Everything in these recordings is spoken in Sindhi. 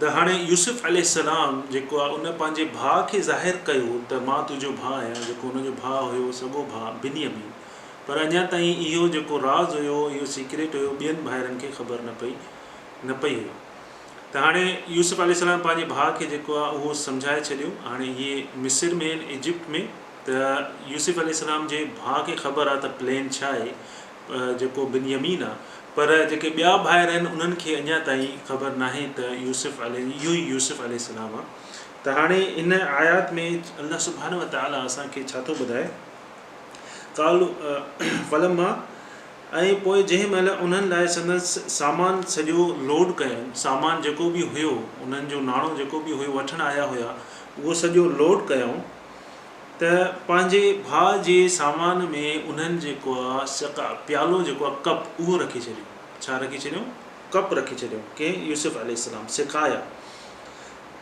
ته هاڻي يوسف عليه السلام جيڪو آهي ان پنهنجي ڀاء کي ظاهر ڪيو ته مان تنهنجو ڀاء آهيان جيڪو ان جو ڀاء هيو سڳو ڀاء بنيامين پر اڃا تائين اهو جيڪو راز هيو اهو سيڪريٽ هيو ٻين ڀائرن کي خبر نه پئي نه پئي هيو ته هاڻي يوسف عليه السلام پنهنجي ڀاء کي جيڪو آهي اهو سمجهائي ڇڏيو هاڻي اهي مصر ۾ آهن ايجپٽ ۾ ته يوسف عليه السلام جي ڀاء کي خبر آهي ته پلين ڇا آهي جيڪو بنيامين آ، پر جيڪي ٻيا ڀائر آهن انهن کي اڃا تائين خبر ناهي ته يوسف عليه اهو ئي يوسف عليه السلام آ ته هاڻي ان آيات ۾ الله سبحانه وتعالٰي اسان کي ڇا ٿو ٻڌائي قالو فلما ۽ پوء جنهن مهل انهن لاء سندس سامان سڄو لوڊ ڪيائون سامان جيڪو به هيو انهن جو ناڻو جيڪو به هيو وٺڻ آيا هيا اهو سڄو لوڊ ڪيائون ته پنهنجي ڀاء جي سامان ۾ انهن جيڪو آ سقاء، پيالو جيڪو آ ڪپ، اهو رکي ڇڏيون. ڇا رکي ڇڏيون؟ ڪپ رکي ڇڏيون. ڪنهن؟ يوسف عليه السلام سقايا.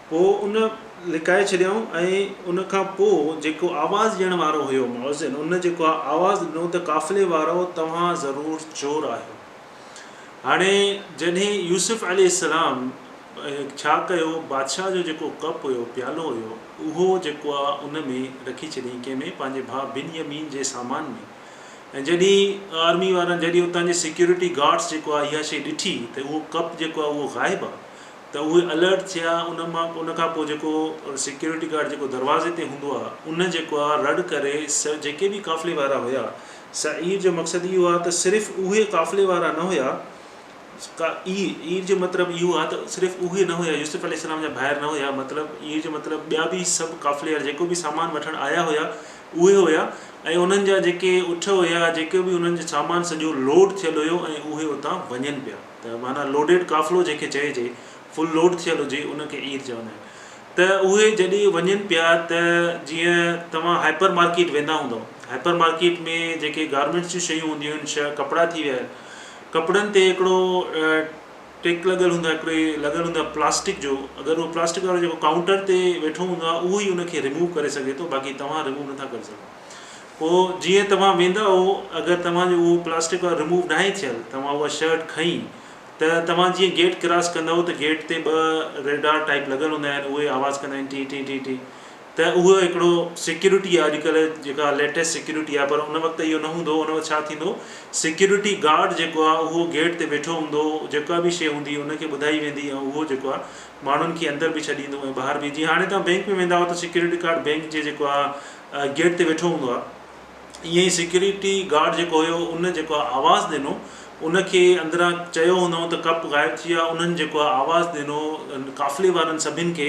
پوء ان لڪائي ڇڏيائون ۽ ان کان پوء جيڪو آواز ڏيڻ وارو هيو مؤذن، ان جيڪو آ آواز ڏنو ته قافلي وارؤ توهان ضرور چور آهيو. هاڻي جڏهن يوسف عليه السلام، ڇا ڪيو، بادشاهه جو جيڪو ڪپ هيو، پيالو هيو، اهو جيڪو آ ان ۾ رکي ڇڏيائين، ڪنهن ۾، پنهنجي ڀاء بنيامين جي سامان ۾. ۽ جڏهن آرمي وارن، جڏهن اتان جي سيڪيورٽي گارڊس جيڪو آ اها شيء ڏٺي ته اهو ڪپ جيڪو آ اهو غائب آ ته اهي الرٽ ٿيا، ان مان ان کان پوء جيڪو سيڪيورٽي گارڊ جيڪو دروازي تي هوندو آ ان جيڪو آ رڙ ڪري سو جيڪي به قافلي وارا هيا، سعير جو مقصد اهو آ ته صرف اهي قافلي وارا نه هيا ڪا اي اير جو مطلب اهو آهي ته صرف اهو ئي نه هيا يوسف عليه السلام جا ڀائر نه هيا مطلب اير جو مطلب ٻيا به سڀ قافلي وارا جيڪو به سامان وٺڻ آيا هيا اهي هيا ۽ انهن جا جيڪي اٺ هيا جيڪو به انهن جو سامان سڄو لوڊ ٿيل هيو ۽ اهي اتان وڃن پيا ته معنيٰ لوڊيڊ قافلو جنهن کي چئجي فل لوڊ ٿيل هجي ان کي اير چوندا آهن ته اهي جڏهن وڃن پيا ته جيئن توهان هائپر مارڪيٽ ويندا هوندؤ هائپر مارڪيٽ ۾ جيڪي گارمينٽس جون شيون هونديون آهن شا ڪپڙا ٿي ويا ڪپڙن تي هڪڙو ٽيڪ لڳل هوندو آهي هڪڙي لڳل هوندو آهي پلاسٽڪ جو اگر اهو پلاسٽڪ وارو جيڪو ڪائونٽر تي ويٺو هوندو آهي اهو ئي ان کي رموو ڪري سگهي ٿو باقي توهان رموو نٿا ڪري سگهو پوء جيئن توهان ويندؤ اگر توهان جو اهو پلاسٽڪ وارو رموو ناهي ٿيل توهان اها شرٽ کڻي ته توهان جيئن گيٽ ڪراس ڪندؤ ته گيٽ تي ٻه ريڊار ٽائپ لڳل هوندا آهن اهي آواز ڪندا آهن ٽي ٽي ٽي ٽي ته اهو هڪڙو سيڪيورٽي آهي اڄڪلهه جيڪا ليٽيسٽ سيڪيورٽي آهي پر ان وقت اهو نه هوندو هو ان وقت ڇا ٿيندو هو سيڪيورٽي گارڊ جيڪو آهي اهو گيٽ تي ويٺو هوندو هو جيڪا به شيء هوندي ان کي ٻڌائي ويندي ۽ اهو جيڪو آهي ماڻهن کي اندر به ڇڏيندو ۽ ٻاهر به جيئن هاڻي توهان بينڪ ۾ ويندا آهيو ته سيڪيورٽي گارڊ بينڪ جي جيڪو آهي گيٽ تي ويٺو هوندو آهي ائين ئي سيڪيورٽي گارڊ جيڪو هيو ان جيڪو آهي آواز ڏنو ان کي اندران چيو هوندائون ته ڪپ غائب ٿي ويا انهن جيڪو آهي آواز ڏنو قافلي وارن سڀن کي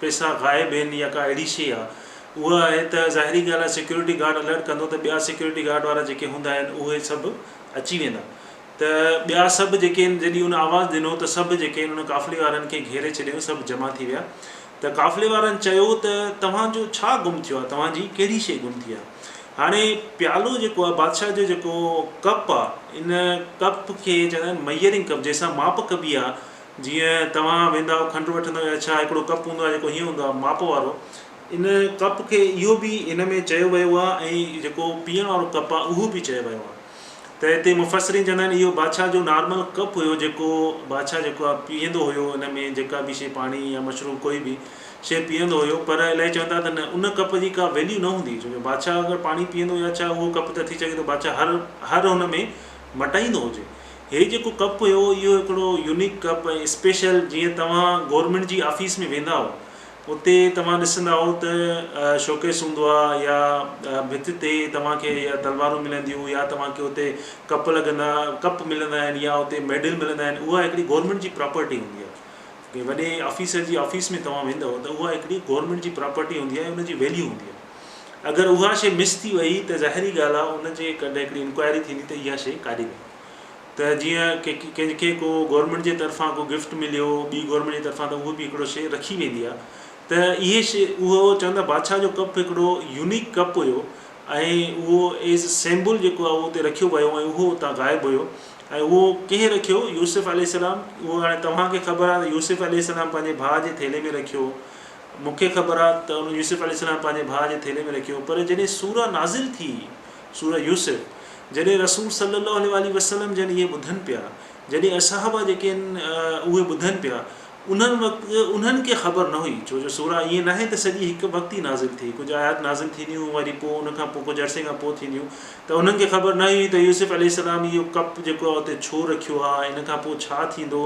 پئسا غائب هين يا ڪا اهڙي شيء آ اها آهي ته ظاهري ڳالهه آهي سيڪيورٽي گارڊ الرٽ ڪندو ته ٻيا سيڪيورٽي گارڊ وارا جيڪي هوندا آهن اهي سڀ اچي ويندا ته ٻيا سڀ جيڪي آهن جڏهن ان آواز ڏنو ته سڀ جيڪي آهن ان قافلي وارن کي گهيري ڇڏيو سڀ جمع ٿي ويا ته قافلي وارن چيو ته توهان جو ڇا گم ٿيو آهي توهان جي ڪهڙي شيء گم ٿي آهي هاڻي پيالو جيڪو آهي بادشاهه جو جيڪو ڪپ آهي ان ڪپ کي چوندا آهن ميئرنگ ڪپ جنهن سان ماپ ڪبي آهي جيئن توهان ويندا آهيو کنڊ وٺندا آهيو اڇا هڪڙو ڪپ هوندو آهي جيڪو هيئن هوندو آهي ماپ وارو ان ڪپ کي اهو به ان ۾ چيو ويو آهي ۽ جيڪو پيئڻ وارو ڪپ آهي اهو به چيو ويو آهي ته هتي مفسرين چوندا آهن اهو بادشاهه جو نارمل ڪپ هيو جيڪو بادشاهه جيڪو آهي پيئندو هيو ان ۾ جيڪا به شي پاڻي يا مشروب ڪوئي به شي پيئندو هيو پر الائي چون ٿا ته نه ان ڪپ جي ڪا ويليو نه هوندي ڇو جو بادشاهه اگر پاڻي پيئندو يا ڇا اهو ڪپ ته ٿي سگهي ٿو بادشاهه هر هر ان ۾ مٽائيندو هجي هي جيڪو ڪپ هيو اهو هڪڙو يونيڪ ڪپ ۽ اسپيشل جيئن توهان گورنمينٽ جي آفيس ۾ ويندا آهو اتي توهان ڏسندا آهو ته شوڪيس هوندو آهي يا ڀت تي توهان کي يا تلوارون ملنديون يا توهان کي اتي ڪپ لڳندا ڪپ ملندا آهن يا اتي ميڊل ملندا آهن اها هڪڙي گورنمينٽ جي پراپرٽي هوندي آهي جي وڏي آفيسر جي آفيس ۾ توهان ويندو ته اها هڪڙي گورنمينٽ جي پراپرٽي هوندي آهي ان جي ويليو هوندي آهي اگر اها شي مس ٿي وئي ته ظاهري ڳالهه آهي ان جي ڪڏهن هڪڙي انڪوائري ٿيندي ته اها شي ڪاڏي وئي ته جيئن ڪنهن کي ڪو گورنمينٽ جي طرفان ڪو گفٽ مليو ٻي گورنمينٽ جي طرفان ته اهو به هڪڙو شيء رکي ويندي آ ته اهي شيء اهو چون ٿا بادشاهه جو ڪپ هڪڙو يونيڪ ڪپ هيو ۽ اهو ايز سيمبل جيڪو آ اهو اتي رکيو ويو ۽ اهو اتان غائب هيو ۽ اهو ڪنهن رکيو يوسف عليه السلام اهو هاڻي توهان کي خبر آ ته يوسف عليه السلام پنهنجي ڀاء جي ٿيلهي ۾ رکيو مون کي خبر آ ته يوسف عليه السلام پنهنجي ڀاء جي ٿيلهي ۾ رکيو پر جڏهن سوره نازل ٿي سورة يوسف، جڏهن رسول صلّي اللّٰه عليه واٰله وسلّم جن اهي ٻڌن پيا، جڏهن اصحابه جيڪي آهن اهي ٻڌن پيا، انهن وقت انهن کي خبر نه هئي، ڇو جو سورة ائين ناهي ته سڄي هڪ وقت ئي نازل ٿئي، ڪجهه آيات نازل ٿينديون وري پوء ان کان پوء ڪجهه عرصي کان پوء ٿينديون، ته انهن کي خبر نه هئي ته يوسف عليه السّلام اهو ڪپ جيڪو آهي اتي ڇو رکيو آهي ۽ ان کان پوء ڇا ٿيندو،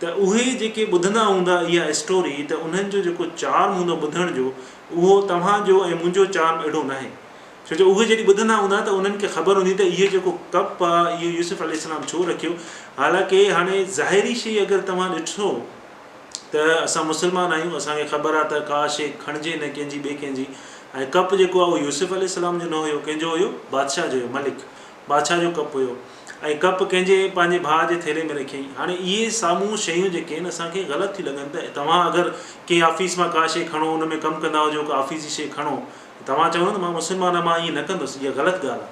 ته اهي جيڪي ٻڌندا هوندا اها اسٽوري ته انهن جو جيڪو چارم هوندو ٻڌڻ جو اهو توهان جو ۽ منهنجو چارم اهڙو ناهي، ڇو جو اهي جڏهن ٻڌندا هوندا ته انهن کي خبر هوندي ته اهي جيڪو ڪپ آ اهو يوسف عليه السلام ڇو رکيو حالانڪه هاڻي ظاهري شيء اگر توهان ڏٺو ته اسان مسلمان آهيون اسان کي خبر آ ته ڪا شيء کڻجي نه ڪنهن جي ٻي ڪنهن جي ۽ ڪپ جيڪو آ اهو يوسف عليه السلام جو نه هيو ڪنهن جو هيو بادشاهه جو هيو ملڪ بادشاهه جو ڪپ هيو ۽ ڪپ ڪنهن جي پنهنجي ڀاء جي ٿيلهي ۾ رکيائين هاڻي اهي سامهون شيون جيڪي آهن اسان کي غلط ٿيون لڳن ته توهان اگر ڪنهن آفيس مان ڪا شيء کڻو ان ۾ ڪم ڪندا هجو ڪا آفيس جي شيء کڻو توهان چوندو ته مان مسلمانن مان ائين نه ڪندس، اها غلط ڳالهه آهي.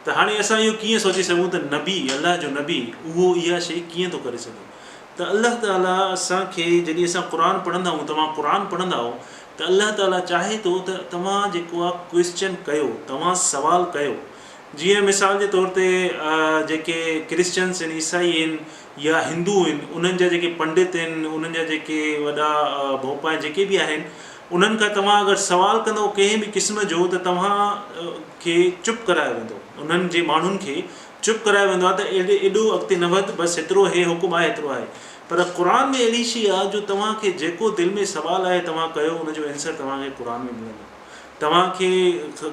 ته هاڻي اسان اهو ڪيئن سوچي سگهون ته نبي، الله جو نبي، اهو اها شيء ڪيئن ٿو ڪري سگهي؟ ته الله تعاليٰ اسان کي جڏهن اسان قرآن پڙهندا آهيون، توهان قرآن پڙهندا آهيو ته الله تعاليٰ چاهي ٿو ته توهان جيڪو آهي ڪوئسچن ڪيو، توهان سوال ڪيو. جيئن مثال جي طور تي جيڪي ڪرسچنس آهن، عيسائي آهن يا هندو آهن، انهن جا جيڪي پنڊت آهن، انهن جا جيڪي وڏا ڀوپا آهن، جيڪي به آهن، انهن کان توهان اگر سوال ڪندو ڪنهن به قسم جو ته توهان کي چپ ڪرايو ويندو. انهن جي ماڻهن کي چپ ڪرايو ويندو آهي ته ايڏي ايڏو اڳتي نه وڌ بس هيترو هي حڪم آهي هيترو آهي پر قرآن ۾ اهڙي شي آهي جو توهان کي جيڪو دل ۾ سوال آهي توهان ڪيو ان جو اينسر توهان کي قرآن ۾ ملندو توهان کي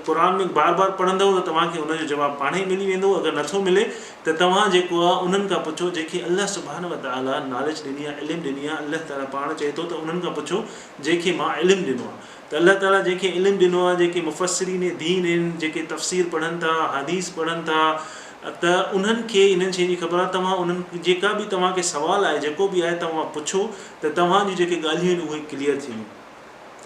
قرآن ۾ بار بار پڙهندؤ ته توهان کي ان جو جواب پاڻهي ملي ويندو اگر نٿو ملي ته توهان جيڪو آهي انهن کان پڇو جنهن کي الله سبحانه وتعالٰي ناليج ڏني آهي علم ڏني آهي الله تعالٰي پاڻ چئي ٿو ته انهن کان پڇو جنهن کي مان علم ڏنو آهي ته الله تعاليٰ جنهن کي علم ڏنو آهي جيڪي مفسرين دين آهن جيڪي تفسير پڙهن ٿا حديث پڙهن ٿا ته انهن کي انهن شين جي خبر آهي توهان انهن جيڪا به توهان کي سوال آهي جيڪو به آهي توهان پڇو ته توهان جون جيڪي ڳالهيون آهن اهي ڪليئر ٿي ويون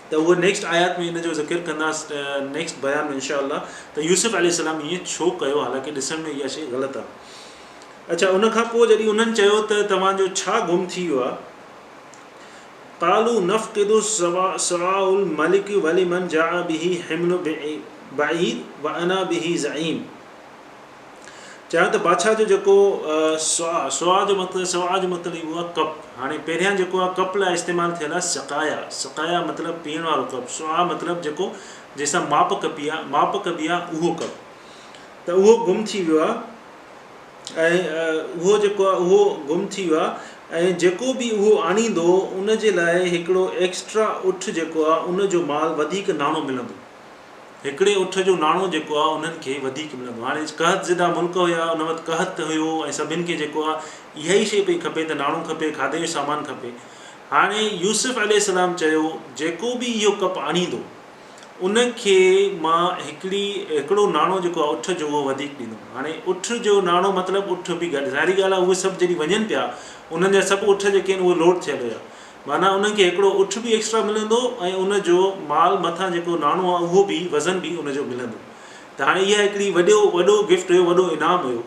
ته اهو نيڪسٽ آيات ۾ ان جو ذڪر ڪنداس نيڪسٽ بيان ۾ انشاء الله ته يوسف عليه السلام ائين ڇو ڪيو حالانڪه ڏسڻ ۾ اها شيء غلط آهي اڇا ان کان پوء جڏهن انهن چيو ته توهان جو ڇا گم ٿي ويو آهي قالوا نفقد سواء الملک ولمن جاء به حمل بعير وانا به زعيم چيا ته بادشاهه جو جيڪو سواء سواء جو مطلب سواء جو مطلب اهو آهي ڪپ هاڻي پهريان جيڪو آهي ڪپ لاء استعمال ٿيل آهي سقايا سقايا مطلب پيئڻ وارو ڪپ سواء مطلب جيڪو جنهن سان ماپ ڪپي آهي ماپ ڪبي آهي اهو ڪپ ته اهو گم ٿي ويو آهي ۽ اهو جيڪو آهي اهو گم ٿي ويو آهي ۽ جيڪو به اهو آڻيندو ان جي لاء هڪڙو ايڪسٽرا اٺ جيڪو آهي ان جو مال وڌيڪ ناڻو ملندو هڪڙي اٺ جو ناڻو جيڪو آهي انهن کي وڌيڪ ملندو هاڻي قحط زده ملڪ هيا ان وقت قحط هيو ۽ سڀن کي جيڪو آهي اها ئي شي پئي کپي ته ناڻو کپي کاڌي جو سامان کپي هاڻي يوسف عليه السلام چيو جيڪو به اهو ڪپ آڻيندو ان کي مان هڪڙي هڪڙو ناڻو جيڪو آهي اٺ جو اهو وڌيڪ ڏيندم هاڻي اٺ جو ناڻو مطلب اٺ به گڏ ظاهري ڳالهه آهي اهي سڀ جڏهن وڃن پيا انهن جا سڀ اٺ جيڪي آهن اهي لوڊ ٿيل هيا معنيٰ انهن کي هڪڙو اٺ به ايڪسٽرا ملندو ۽ ان جو مال مٿان جيڪو ناڻو آهي اهو به وزن به ان جو ملندو ته هاڻي اها هڪڙي وڏو وڏو گفٽ هيو وڏو انعام هيو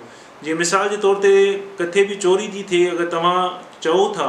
جي مثال جي طور تي ڪٿي به چوري ٿي ٿئي اگر توهان چئو ٿا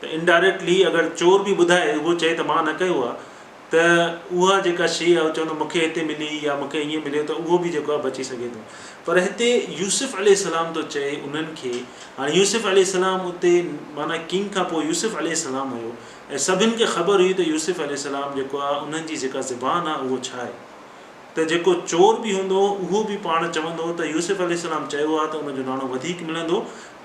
ته انڊائريڪٽلي اگر چور به ٻڌائي اهو چئي ته مان نه ڪيو آ ته اها جيڪا شيء آ چوندو مون کي هتي ملي يا مون کي ائين مليو ته اهو به جيڪو آ بچي سگهي ٿو پر هتي يوسف عليه السلام ٿو چئي انهن کي هاڻي يوسف عليه السلام اتي معنيٰ ڪنگ کان پوء يوسف عليه السلام هيو ۽ سڀن کي خبر هئي ته يوسف عليه السلام جيڪو آ انهن جي جيڪا زبان آ اهو ڇا آهي. ته جيڪو چور به هوندو اهو به پاڻ چوندو ته يوسف عليه السلام چيو آهي ته ان جو ناڻو وڌيڪ ملندو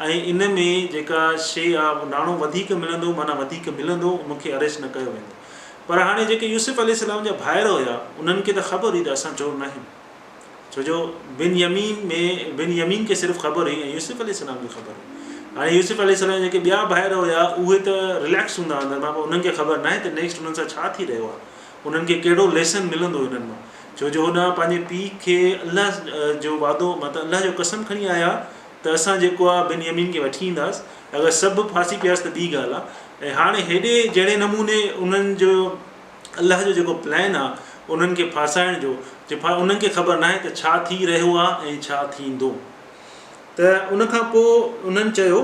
۽ ان ۾ جيڪا شيء آهي اهو ناڻو وڌيڪ ملندو معنيٰ وڌيڪ ملندو مون کي اريسٽ نه ڪيو ويندو پر هاڻي جيڪي يوسف عليه السلام جا ڀائر هيا انهن کي ته خبر هئي ته اسان چور ناهيون ڇو جو بن يمين ۾ بن يمين کي صرف خبر هئي ۽ يوسف عليه السلام کي خبر هئي هاڻي يوسف عليه السلام جيڪي ٻيا ڀائر هيا اهي ته ريليڪس هوندا اندر مان انهن کي خبر ناهي ته نيڪسٽ انهن سان ڇا ٿي رهيو آهي انهن کي ڪهڙو ليسن ملندو انهن مان ڇو جو هو نه پنهنجي پيء کي الله جو وعدو مت الله جو قسم کڻي آيا ته اسان جيڪو آ بن يمين کي وٺي اينداس اگر سڀ ڦاسي پياس ته ٻي ڳالهه آ ۽ هاڻي هيڏي جهڙي نموني انهن جو الله جو جيڪو پلان آ انهن کي ڦاسائڻ جو جي ڦا انهن کي خبر ناهي ته ڇا ٿي رهيو آ ۽ ڇا ٿيندو ته ان کان پوء انهن چيو.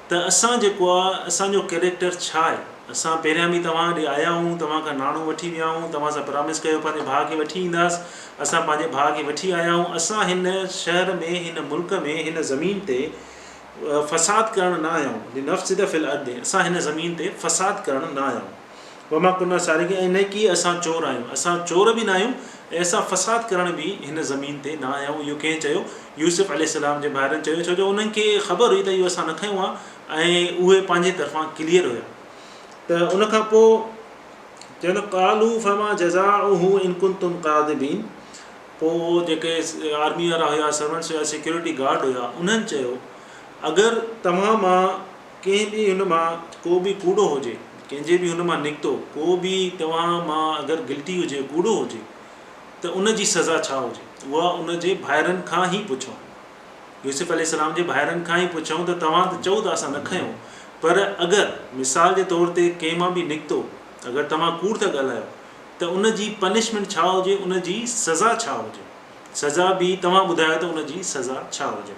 ته اسان جيڪو آ اسان جو ڪيريڪٽر ڇا آهي اسان پهريان به توهان ڏي آيا هئون توهان کان ناڻو وٺي ويا هئون توهان سان پرامس ڪيو پنهنجي ڀاء کي وٺي اينداس اسان پنهنجي ڀاء کي وٺي آيا هئون اسان هن شهر ۾ هن ملڪ ۾ هن زمين تي فساد ڪرڻ نه آيا هئون لنفسد في الارض اسان هن زمين تي فساد ڪرڻ نه آيا هئون. وما ڪنا سارقين ۽ نه ڪي اسان چور آهيون، اسان چور به ناهيون ۽ اسان فساد ڪرڻ به هن زمين تي نه آيا آهيون اهو ڪنهن چيو؟ يوسف عليه السلام جي ڀائرن چيو ڇو جو انهن کي خبر هئي ته اهو اسان نه کنيو آهي ۽ اهي پنهنجي طرفان ڪليئر هيا ته ان کان پوء چيو قالوا فما جزاؤه ان ڪنتم ڪاذبين پوء جيڪي آرمي وارا هيا سرونٽس هيا سيڪيورٽي گارڊ هيا انهن چيو اگر توهان مان ڪنهن به هن مان ڪو به ڪوڙو هجي، ڪنهن جي به هن مان نڪتو ڪو به توهان مان اگر گلٽي هجي، ڪوڙو هجي، ته ان جي سزا ڇا هجي؟ اها ان جي ڀائرن کان هي پڇون. يوسف عليه السلام جي ڀائرن کان هي پڇون ته توهان ته چئو ٿا اسان نه کنيو، پر اگر مثال جي طور تي ڪنهن مان به نڪتو، اگر توهان ڪوڙ ٿا ڳالهايو، ته ان جي پنشمينٽ ڇا هجي، ان جي سزا ڇا هجي؟ سزا به توهان ٻڌايو ته ان جي سزا ڇا هجي؟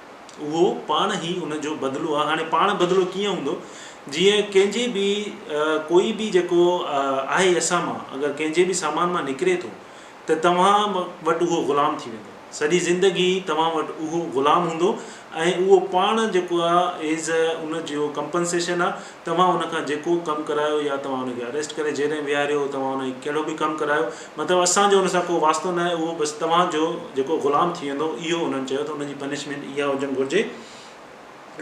اهو پاڻ ئي ان جو بدلو آهي. هاڻي پاڻ بدلو ڪيئن هوندو؟ جيئن ڪنهن جي به ڪوئي به جيڪو آهي اسان مان اگر ڪنهن جي به سامان مان نڪري ٿو ته توهان وٽ اهو غلام ٿي ويندو. سڄي زندگي توهان وٽ اهو غلام هوندو ۽ اهو پاڻ جيڪو آهي ايز ان جو ڪمپنسيشن آهي توهان ان کان جيڪو ڪم ڪرايو يا توهان ان کي اريسٽ ڪري جيل ۾ ويهاريو، توهان ان کي ڪهڙو به ڪم ڪرايو، مطلب اسان جو ان سان ڪو واسطو نه آهي، اهو بس توهان جو جيڪو غلام ٿي ويندو، اهو انهن چيو ته ان جي پنشمينٽ اها هجڻ گهرجي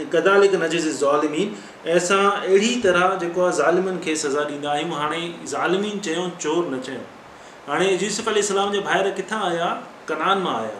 ۽ ڪذالڪ نجزي الظالمين ۽ اسان اهڙي طرح جيڪو آهي ظالمن کي سزا ڏيندا آهيون، هاڻي ظالمين چيو چور نه چيو، هاڻي يوسف عليه السلام جا ڀائر ڪٿان آيا، ڪنعان مان آيا،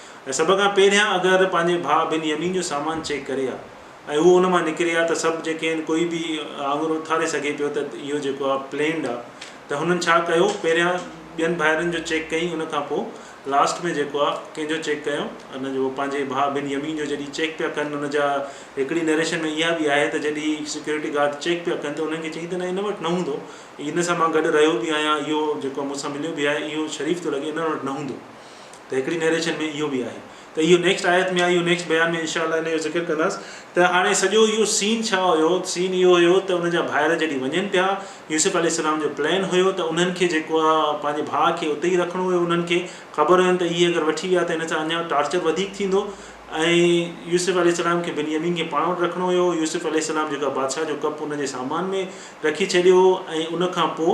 ۽ سڀ کان پهريان اگر ته پنهنجي ڀاء بن يمين جو سامان چيڪ ڪري ها ۽ هو ان مان نڪري ها ته سڀ جيڪي آهن ڪوئي به آڱر اٿاري سگهي پيو ته اهو جيڪو آهي پلينڊ آهي ته هنن ڇا ڪيو پهريان ٻين ڀائرن جو چيڪ ڪيئي ان کان پوء لاسٽ ۾ جيڪو آهي ڪنهن جو چيڪ ڪيو ان جو پنهنجي ڀاء بن يمين جو جڏهن چيڪ پيا ڪن ان جا هڪڙي نريشن ۾ اها به آهي ته جڏهن سيڪيورٽي گارڊ چيڪ پيا ڪن ته انهن کي چيائين ته نه ان وٽ نه هوندو ان سان مان گڏ رهيو به آهيان اهو جيڪو مون سان مليو به آهي اهو شريف ٿو لڳي انهن وٽ نه هوندو ته هڪڙي نيريشن ۾ اهو به آهي ته اهو نيڪسٽ آيت ۾ اهو نيڪسٽ بيان ۾ انشاء الله ان جو ذڪر ڪنداس ته هاڻي سڄو اهو سين ڇا هيو سين اهو هيو ته ان جا ڀائر جڏهن وڃن پيا يوسف عليه السلام جو پلان هيو ته انهن کي جيڪو آ پنهنجي ڀاء کي اتي ئي رکڻو هيو انهن کي خبر هين ته اهي اگر وٺي ويا ته هن سان اڃا ٽارچر وڌيڪ ٿيندو ۽ يوسف عليه السلام کي بنيامين کي پاڻ وٽ رکڻو هيو يوسف عليه السلام جيڪو آ بادشاهه جو ڪپ ان جي سامان ۾ رکي ڇڏيو هو ۽ ان کان پوء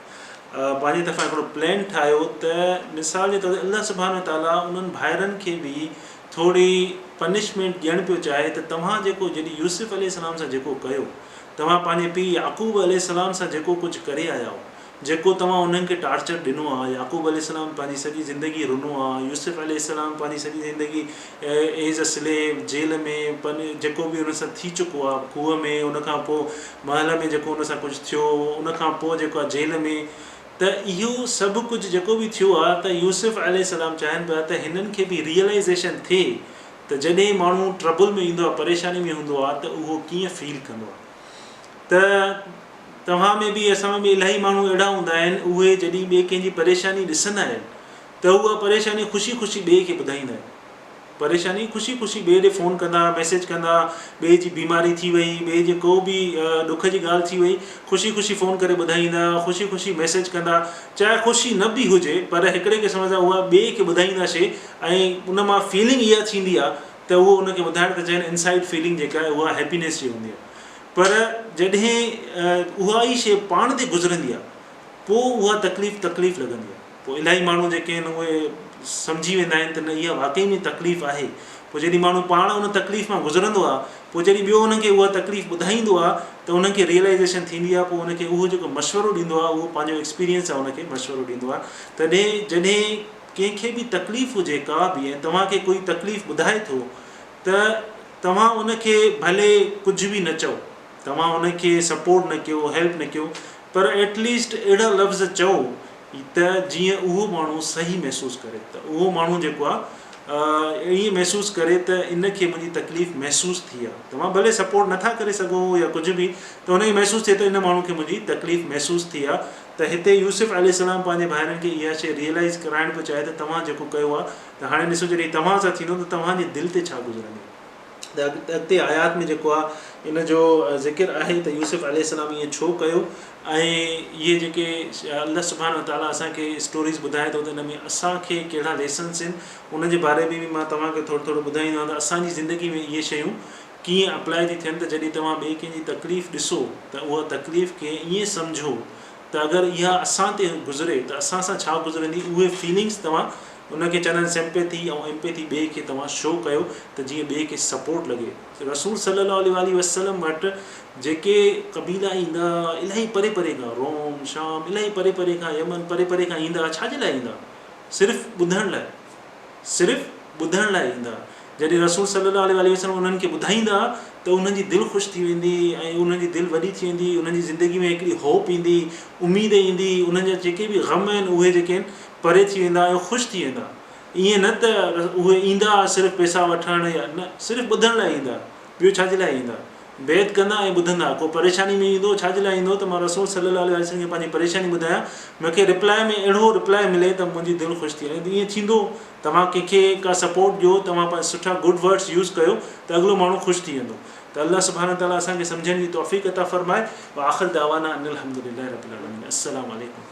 پنهنجي طرفان هڪڙو پلان ٺاهيو ته مثال جي طور تي الله سبحانه وتعاليٰ انهن ڀائرن کي به ٿوري پنشمينٽ ڏيڻ پيو چاهي ته توهان جيڪو جڏهن يوسف عليه السلام سان جيڪو ڪيو توهان پنهنجي پيء يعقوب عليه السلام سان جيڪو ڪجهه ڪري آيا آهيو جيڪو توهان انهن کي ٽارچر ڏنو آهي يعقوب عليه السلام پنهنجي سڄي زندگي رنو آهي يوسف عليه السلام پنهنجي سڄي زندگي اي جا سليب، جيل ۾، پن جيڪو به ان سان ٿي چڪو آ، کوهه ۾، ان کان پوء محل ۾ جيڪو ان سان ڪجهه ٿيو، ان کان پوء جيڪو آ جيل ۾، ته اهو سڀ ڪجهه جيڪو به ٿيو آ ته يوسف عليه السلام چاهين پيا ته هنن کي به ريئلائيزيشن ٿئي ته جڏهن ماڻهو ٽربل ۾ ايندو آ، پريشاني ۾ هوندو آ ته اهو ڪيئن فيل ڪندو آ ته توهان ۾ به اسان ۾ به الاهي ماڻهو اهڙا هوندا آهن اهي جڏهن ٻئي ڪنهن جي پريشاني ڏسندا آهن ته اها پريشاني خوشي خوشي ٻئي کي ٻڌائيندا آهن. پريشاني خوشي خوشي ٻئي ڏي فون ڪندا، ميسيج ڪندا، ٻئي جي بيماري ٿي وئي، ٻئي جي ڪو به ڏک جي ڳالهه ٿي وئي، خوشي خوشي فون ڪري ٻڌائيندا، خوشي خوشي ميسيج ڪندا، چاهي خوشي نه به هجي پر هڪڙي قسم سان اها ٻئي کي ٻڌائيندا شي ۽ ان مان فيلنگ اها ٿيندي آهي ته اهو ان کي ٻڌائڻ ته چين انسائيڊ فيلنگ جيڪا آهي اها هيپينيس جي هوندي آهي پر جڏهن اها ئي شي پاڻ تي گذرندي آهي پوء اها تڪليف تڪليف لڳندي آهي. پوء الاهي ماڻهو جيڪي آهن اهي سمجهي ويندا آهن ته نه اها واقعي ۾ تڪليف آهي. پوء جڏهن ماڻهو پاڻ ان تڪليف مان گذرندو آهي پوء جڏهن ٻيو ان کي اها تڪليف ٻڌائيندو آهي ته ان کي Realization ٿيندي آهي پوء ان کي اهو جيڪو مشورو ڏيندو آهي اهو پنهنجو Experience سان ان کي مشورو ڏيندو آهي تڏهن جڏهن ڪنهن کي به تڪليف هجي ڪا به ۽ توهان کي ڪوئي تڪليف ٻڌائي ٿو ته توهان ان کي ڀلي ڪجهه به نه چئو توهان هن کي سپورٽ نه ڪيو هيلپ نه ڪيو پر ايٽ ليسٽ اهڙا لفظ چئو ته جيئن اهو ماڻهو صحيح محسوس ڪري ته اهو ماڻهو جيڪو آهي ائين محسوس ڪري ته ان کي منهنجي تڪليف محسوس ٿي آهي توهان ڀلي سپورٽ نه ٿا ڪري سگهو يا ڪجهه به ته هن کي محسوس ٿئي ته ان ماڻهو کي منهنجي تڪليف محسوس ٿي آهي ته هتي يوسف عليه السلام پنهنجي ڀائرن کي اها شيء ريئلائز ڪرائڻ پيو چاهي ته توهان جيڪو ڪيو آهي ته هاڻي ڏسو جڏهن توهان سان ٿيندو ته توهان جي دل تي ڇا گذرندو. ته اڳتي آيات ۾ جيڪو آهي ان جو ذڪر آهي ته يوسف عليه السلام ائين ڇو ڪيو ۽ اهي جيڪي الله سبحانه وتعاليٰ اسانکي اسٽوريز ٻڌائي ٿو ته ان ۾ اسانکي ڪهڙا ليسنس آهن ان جي باري ۾ بي مان توهان کي ٿورو ٿورو ٻڌائيندو آهيان ته اسانجي زندگي ۾ اهي شيون ڪيئن اپلاء ٿي ٿين ته جڏهن توهان ٻئي ڪنهن جي تڪليف ڏسو ته اها تڪليف کي ائين سمجهو ته اگر اها اسان تي گذري ته اسان سان ڇا گذرندي اهي فيلنگس توهان ان کي چوندا آهن سمپيٿي ۽ امپيٿي ٻئي کي توهان شو ڪيو ته جيئن ٻئي کي سپورٽ لڳي رسول صلي الله عليه واٰله وسلم وٽ جيڪي قبيلا ايندا الائي پري پري کان روم شام الائي پري پري کان يمن پري پري کان ايندا ڇا جي لاء ايندا صرف ٻڌڻ لاء صرف ٻڌڻ لاء ايندا. جڏهن رسول صلّي الله عليه واٰله وسلّم انهن کي ٻڌائيندا ته انهن جي دل خوش ٿي ويندي ۽ انهن جي دل وڏي ٿي ويندي، انهن جي زندگي ۾ هڪڙي هوپ ايندي، اميد ايندي، انهن جا جيڪي به غم آهن اهي جيڪي آهن پري ٿي ويندا ۽ خوش ٿي ويندا. ائين نه ته اهي ايندا صرف پئسا وٺڻ يا نه صرف ٻڌڻ لاء ايندا. ٻيو ڇا جي لاء ايندا؟ بيعت ڪندا ۽ ٻڌندا، ڪو پريشاني ۾ ايندو، ڇا جي لاء ايندو ته مان رسول صلي الله عليه وآله وسلم کي پنهنجي پريشاني ٻڌايان، مون کي ريپلائي ۾ اهڙو ريپلائي ملي ته منهنجي دل خوش ٿئي ۽ ائين ٿيندو توهان ڪنهن کي ڪا سپورٽ ڏيو توهان پنهنجا سٺا گڊ ورڊس يوز ڪيو ته اڳلو ماڻهو خوش ٿي ويندو ته الله سبحانه تعالٰي اسان کي سمجهڻ جي توفيق عطا فرمائي واخر دعوانا ان الحمدلله رب العالمين السلام عليڪم.